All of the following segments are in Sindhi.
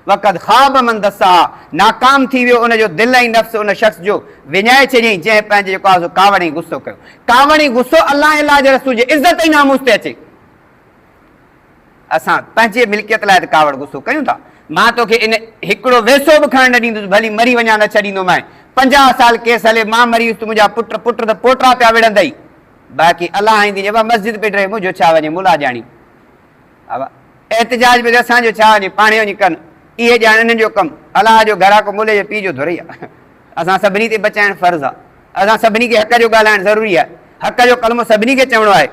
وقد خاب من دساها، ناڪام ٿي ويو ان جو دل ۽ نفس ان شخص جو وڃائي ڇڏيائين جنهن پنهنجي جيڪو آهي سو ڪاوڙ ۽ غصو ڪيو. ڪاوڙ ۽ غصو الله ۽ الله جي رسول جي عزت ۽ ناموس تي اچي. اسان پنهنجي ملڪيت لاء ته ڪاوڙ غصو ڪيون ٿا. مان توکي ان هڪڙو ويسو به کڻڻ نه ڏيندس، ڀلي مري وڃان نه ڇڏيندومانء. پنجاهه سال ڪيس هلي، مان مري ويس ته منهنجا پٽ، پٽ ته پوٽا پيا وڙهندئي. باقي الله آئيندي جيڪا مسجد پٽ رهي منهنجو ڇا وڃي ملا ڄاڻي. احتجاج به اسان جو ڇا وڃي پاڻهي وڃي ڪن اهي ڄاڻن انهن جو ڪم الله جو گهر آ ڪو ملي جي پي جو ڌرئي آ اسان سڀني تي بچائڻ فرض آ اسان سڀني کي حق جو ڳالهائڻ ضروري آ حق جو ڪلمو سڀني کي چوڻو آهي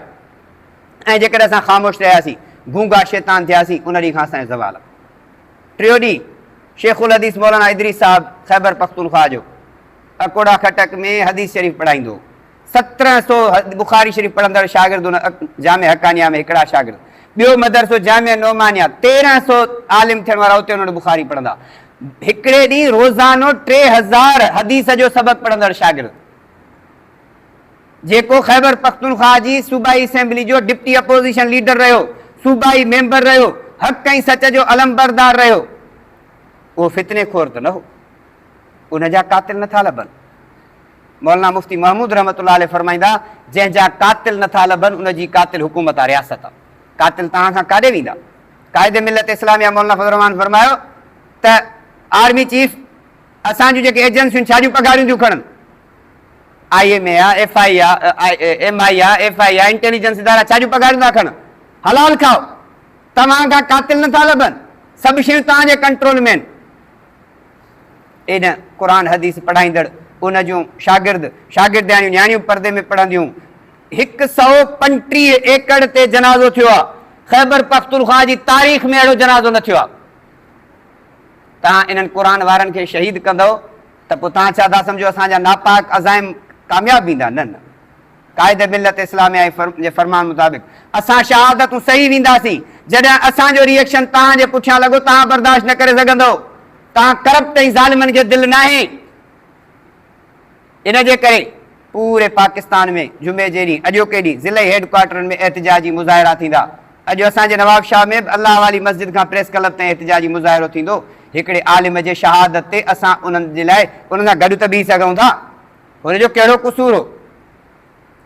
۽ جيڪڏهن اسان خاموش رهياسين گونگا شيطان ٿياسين ان ڏينهن کان اسان جو زوال آ ٽيو ڏينهن شيخ الحديث مولانا ادريس صاحب خيبر پختونخواهه جو اڪوڙا خٽڪ ۾ حديث شريف پڙهائيندو هو سترهن سو بخاري شريف پڙهندڙ شاگردن جامع حقانيه ۾ هڪڙا شاگرد، ٻيو مدرسو جامع نعمانيه، تيرهن سو عالم ٿيڻ وارا اتي انهن بخاري پڙهندا. هڪڙي ڏينهن روزانو ٽي هزار حديث جو سبق پڙهندڙ شاگرد، جيڪو خيبر پختونخواهه جي صوبائي اسيمبلي جو ڊپٽي اپوزيشن ليڊر رهيو، صوبائي ميمبر رهيو، حق ۽ سچ جو علمبردار رهيو، اهو فتني خور ته نه هو؟ ان جا قاتل نٿا لڀن؟ مولانا مفتي محمود رحمة الله عليه فرمائيندا، جنهن جا قاتل نه ٿا لڀن ان جي قاتل حڪومت آ رياست آ. قاتل توهان کان ڪاڏي ويندا؟ قائد ملت اسلاميه مولانا فضل الرحمان فرمايو ته آرمي چيف اسان جون جيڪي ايجنسيون ڇا جون پگهاريون ٿيون کڻن؟ I M E A, F I A, M I A, F I A, intelligence ادارا ڇا جون پگهاريون ٿا کڻن؟ حلال کائو. توهان کان قاتل نه ٿا لڀن. سڀ شيون توهان جي ڪنٽرول ۾ آهن. ايڏن قرآن حديث پڙهائيندڙ ان جون شاگرد شاگردياڻيون نياڻيون پردي ۾ پڙهنديون. هڪ سئو پنجٽيهه ايڪڙ تي جنازو ٿيو آ خيبر پختونخوا جي تاريخ ۾ اهڙو جنازو نه ٿيو آ تهان انهن قرآن وارن کي شهيد ڪندؤ ته پو تهان ڇا ٿا سمجهو اسان جا ناپاڪ عزائم ڪامياب ويندا نه نه. قائد ملت اسلاميه جي فرمان مطابق اسان شهادتون سهي وينداسين جڏهن اسان جو ريئڪشن توهان جي پٺيان لڳو توهان برداشت نه ڪري سگهندؤ توهان ڪرپٽ ۽ ظالمن کي دل ناهي ان جي ڪري پوري پاڪستان ۾ جمعي جي ڏينهن اڄوڪي ڏينهن ضلعي هيڊ ڪوارٽرن ۾ احتجاجي مظاهرا ٿيندا اڄ اسان جي نواب شاهه ۾ به الله والي مسجد کان پريس ڪلب تائين احتجاجي مظاهرو ٿيندو هڪڙي عالم جي شهادت تي اسان انهن جي لاء انهن سان گڏ ته بيهي سگهون ٿا هن جو ڪهڙو قصور هو؟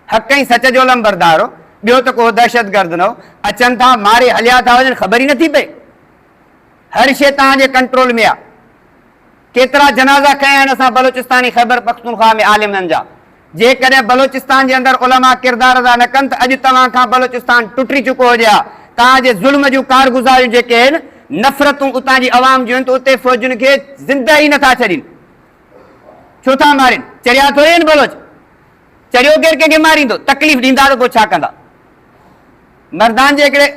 حق ۽ سچ جو علمبردار هو، ٻيو ته ڪو دهشتگرد نه هو، اچن ٿا، ماري هليا ٿا وڃن، خبر ئي نه ٿي پئي. هر شيء توهان جي ڪنٽرول ۾ آهي. ڪيترا جنازا کنيا آهن اسان بلوچستاني خيبرپختونخواهه ۾ عالمن جا، جيڪڏهن بلوچستان جي اندر علماء ڪردار ادا نه ڪن ته اڄ توهان کان بلوچستان ٽٽي چڪو هجي ها، توهان جي ظلم جون ڪارگذاريون جيڪي آهن، نفرتون اتان جي عوام جون آهن ته اتي فوجين کي زنده ئي نه ٿا ڇڏين. ڇو ٿا مارين؟ چريا ٿوري آهن بلوچ؟ چريو ڪير ڪنهن کي ماريندو؟ تڪليف ڏيندا ته پوء ڇا ڪندا؟ مردان جي هڪڙي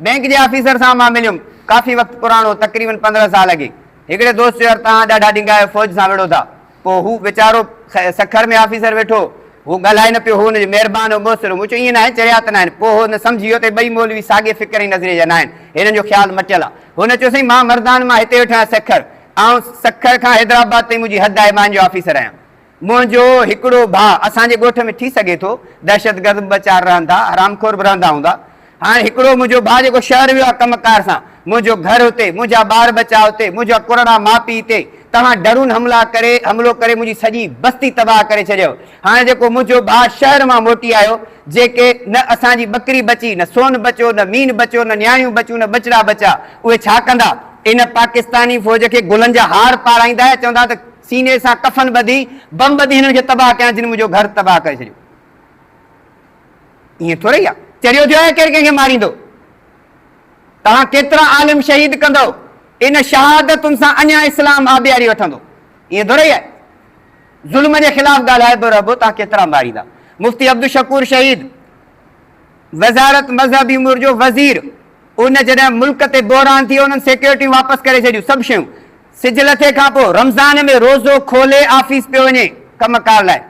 بئنڪ جي آفيسر سان مان مليم، ڪافي وقت پراڻو، تقريبن پندرهن سال اڳي. هڪڙي دوست چيو يار توهان ڏاڍا ڏينگا آهيو، فوج سان وڙهو ٿا. پوء هو ويچارو سکر ۾ آفيسر ويٺو هو، هو ڳالهائي نه پيو، هو هن جو مهربان هو، مؤثر هو. مون چيو ائين ناهي، چريا ته ناهن. پوء هن سمجهي ويو ته هي ٻئي مولوي ساڳئي فڪر ۽ نظريي جا ناهن، هنن جو خيال مٽيل آهي. هن چيو سائين مان مردان مان هتي ويٺو آهيان سکر، آئون سکر کان حيدرآباد تائين منهنجي حد آهي، مان هن جو آفيسر آهيان. منهنجو هڪڙو ڀاء اسان جي ڳوٺ ۾ ٿي سگهي ٿو، دهشتگرد به ٻه چار رهن ٿا، حرام خور به رهندا هوندا. هاڻي هڪڙو منهنجو ڀاء جيڪو شهر ويو آهي ڪم ڪار سان، منهنجو گهر هتي، منهنجا ٻار ٻچا هتي، منهنجا ڪرڙا ماء پيء هتي، توهان ڊرون حملا ڪري حملو ڪري منهنجي سڄي بستي تباهه ڪري ڇڏيو. هاڻي جيڪو منهنجو ڀاء شهر مان موٽي آيو، جيڪي نه اسان جي ٻڪري بچي، نه سون بچيو، نه مين بچيو، نه نياڻيون بچيون، نه ٻچڙا بچيا، اهي ڇا ڪندا؟ ان پاڪستاني فوج کي گلن جا هار پارائيندا ۽ چوندا ته سيني سان ڪفن ٻڌي، بم ٻڌي هنن کي تباهه ڪيان جن منهنجو گهر تباهه ڪري ڇڏيو. ائين ٿورئي آهي، چريو ٿيو آهي ڪير ڪنهن کي ماريندو؟ توهان ڪيترا عالم شهيد ڪندؤ، ان شهادتن سان اڃا اسلام آبياري وٺندو، ائين ٿورئي آهي. ظلم جي خلاف ڳالهائبو رهبو تان ڪيترا ماريندا. مفتي عبدالشڪور شهيد وزارت مذهبي امور جو وزير ان جڏهن ملڪ تي بحران ٿيو انهن سيڪيورٽيون واپس ڪري ڇڏيون سڀ شيون سج لٿي کان پو رمضان ۾ روزو کولي آفيس پيو وڃي ڪم ڪار لاء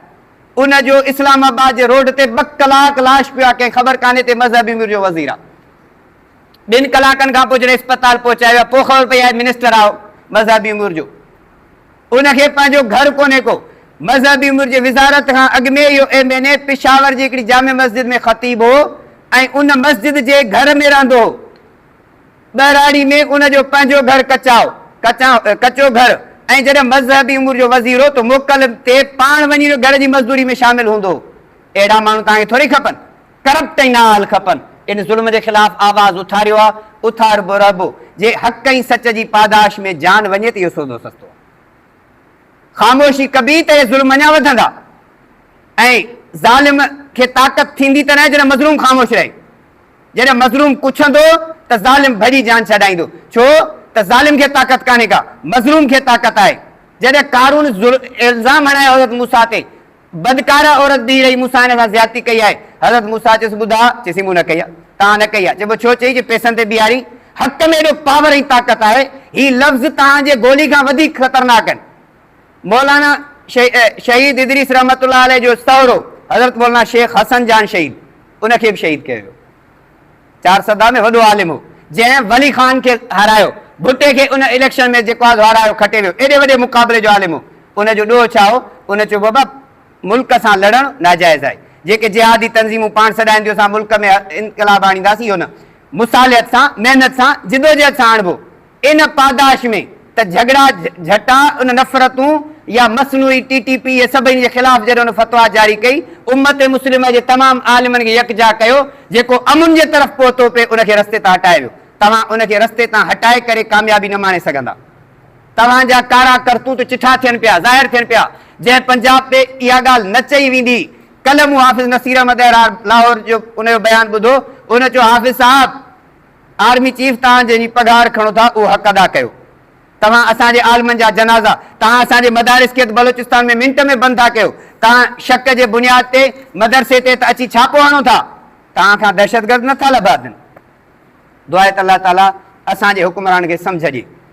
ان جو اسلام آباد جي روڊ تي ٻه ڪلاڪ لاش پيو آ ڪنهن خبر ڪانهي تي مذهبي امور جو وزير آ ٻن ڪلاڪن کان پو جڏهن اسپتال پهچايو آ پو خبر پئي آهي منسٽر آ مذهبي امور جو. ان کي پنهنجو گهر ڪونهي ڪو. مذهبي امور جي وزارت کان اڳ ۾ اهو ايم اين اي پشاور جي هڪڙي جامع مسجد ۾ خطيب هو ۽ ان مسجد جي گهر ۾ رهندو هو. ٻهراڙي ۾ ان جو پنهنجو گهر ڪچا هو، ڪچو گهر، ۽ جڏهن مذهبي امور جو وزير هو ته موڪل تي پاڻ وڃي گهر جي مزدوري ۾ شامل هوندو هو. اهڙا ماڻهو توهان کي ٿوري کپن. ڪرپٽ ۽ نااهل کپن ان ظلم جي خلاف آواز اٿاريو آ اٿاربو رهبو جي حق ۽ سچ جي پاداش ۾ جان وڃي ته اهو سودو سستو آ خاموشي ڪبي ته اهي ظلم اڃا وڌندا ۽ ظالم کي طاقت ٿيندي ته نه جڏهن مظلوم خاموش رهي جڏهن مظلوم ڪڇندو ته ظالم ڀڄي جان ڇڏائيندو ڇو ته ظالم کي طاقت ڪانهي ڪا مظلوم کي طاقت آهي جڏهن قارون الزام هڻائي حضرت موسيٰ تي بدڪاره عورت بيهي رهي، مون سان هن سان زيادتي ڪئي آهي. حضرت موسيٰ چيس، ٻڌاء؟ چيسين، مون نه ڪئي آهي. توهان نه ڪئي آهي. چئبو ڇو چئي؟ چي پيسن تي بيهارين. حق ۾ ايڏو پاور ۽ طاقت آهي. هي لفظ توهان جي گولي کان وڌيڪ خطرناڪ آهن. مولانا شهيد ادريس رحمة الله عليه جو سهرو حضرت مولانا شيخ حسن جان شهيد، ان کي به شهيد ڪيو ويو. چارسده ۾ وڏو عالم هو، جنهن ولي خان کي هارايو. ڀٽي کي ان اليڪشن ۾ جيڪواز هارايو کٽي ويو. ايڏي وڏي مقابلي جو عالم هو. ان جو ڏوهه ڇا هو؟ ان چيو بابا ملڪ سان لڙڻ ناجائز آهي. جيڪي جهادي تنظيمون پاڻ سڏائينديون اسان ملڪ ۾ انقلاب آڻينداسين اهو نه. مصالحت سان، محنت سان، جدوجهد سان آڻبو. ان پاداش ۾ ته جهڳڙا جهٽا ان نفرتون يا مصنوعي ٽي ٽي پي سڀني جي خلاف جڏهن ان فتويٰ جاري ڪئي امت مسلمه جي تمام عالمن کي يڪجا ڪيو جيڪو امن جي طرف پهتو پي ان کي رستي تان هٽائي ويو توهان ان کي رستي تان هٽائي ڪري ڪاميابي نه ماڻي سگهندا توهان جا ڪارا ڪرتوت چٺا ٿين پيا ظاهر ٿين پيا جنهن پنجاب تي اها ڳالهه نه چئي ويندي ڪلهه مون حافظ نصير احمد لاهور جو ان جو بيان ٻڌو ان چيو حافظ صاحب آرمي چيف توهان جنهن جي پگهار کڻو ٿا اهو حق ادا ڪيو توهان اسان جي عالمن جا جنازا توهان اسان جي مدارس کي ته بلوچستان ۾ منٽ ۾ بند ٿا ڪيو توهان شڪ جي بنياد تي مدرسي تي ته اچي ڇاپو هڻو ٿا توهان کان دهشتگرد نه ٿا لڀاجن دعا ته الله تعالي اسان جي حڪمرانن کي سمجهه ڏي.